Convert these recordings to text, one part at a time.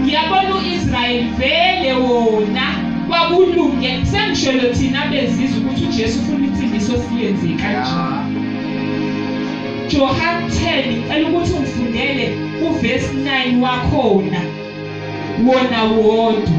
Ngiyabona uIsrael vele wona kwakulunge sengishelo thina bezizwe ukuthi uJesu ufuna insindiso siyenze kanje. Johan 10 ngicela ukuthi ungifundele uverse 9 wakhona wona wodwa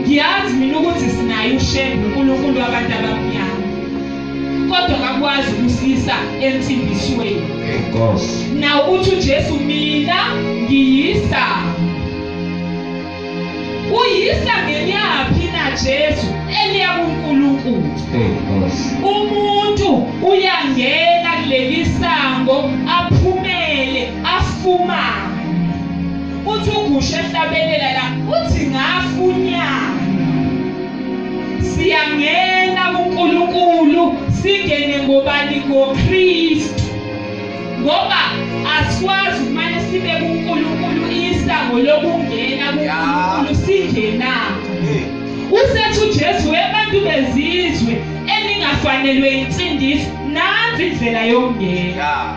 ngiyazi mina ukuthi sinaye usheni nonkulunkulu wabantu abamnyama kodwa kakwazi ukusisa ensimbisweni na uthi ujesu mina ngiyisa uyisa ngenyaphi na jesu eliya kunkulunkulu umuntu uyangena kuleli sango aphumele afumane uthi ugusha ehlabelela la uthi ngafunyana siyangena kuNkulunkulu singene ngobani ngoKristu ngoba asikwazi kumane sibe kuNkulunkulu isango lokungena kuNkulunkulu singena usethi uJesu webantu bezizwe eningafanelwe insindiso nansi indlela yokungena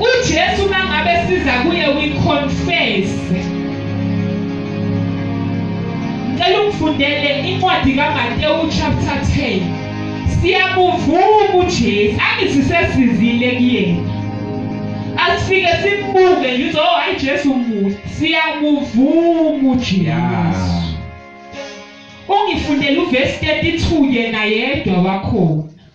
uJesu mangabe siza kuye we confess ngicela ungifundele incwadi kaMatewu chapter 10 siyakuvuma uJesu angisisesizile kuyena asifike simbuke yizo oh, hayi Jesu muhle siyakuvuma uJesu ungifundele uvesi 32 yena yedwa wakhona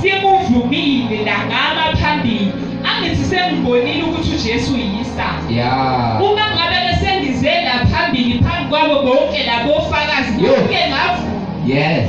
Sikuvumile la ngama phambili. Angithi sengibonile ukuthi uJesu uyisa. Yeah. Uma ngabe besengize la phambili phambi kwabo bonke labo fakazi ngeke ngavuma. Yes.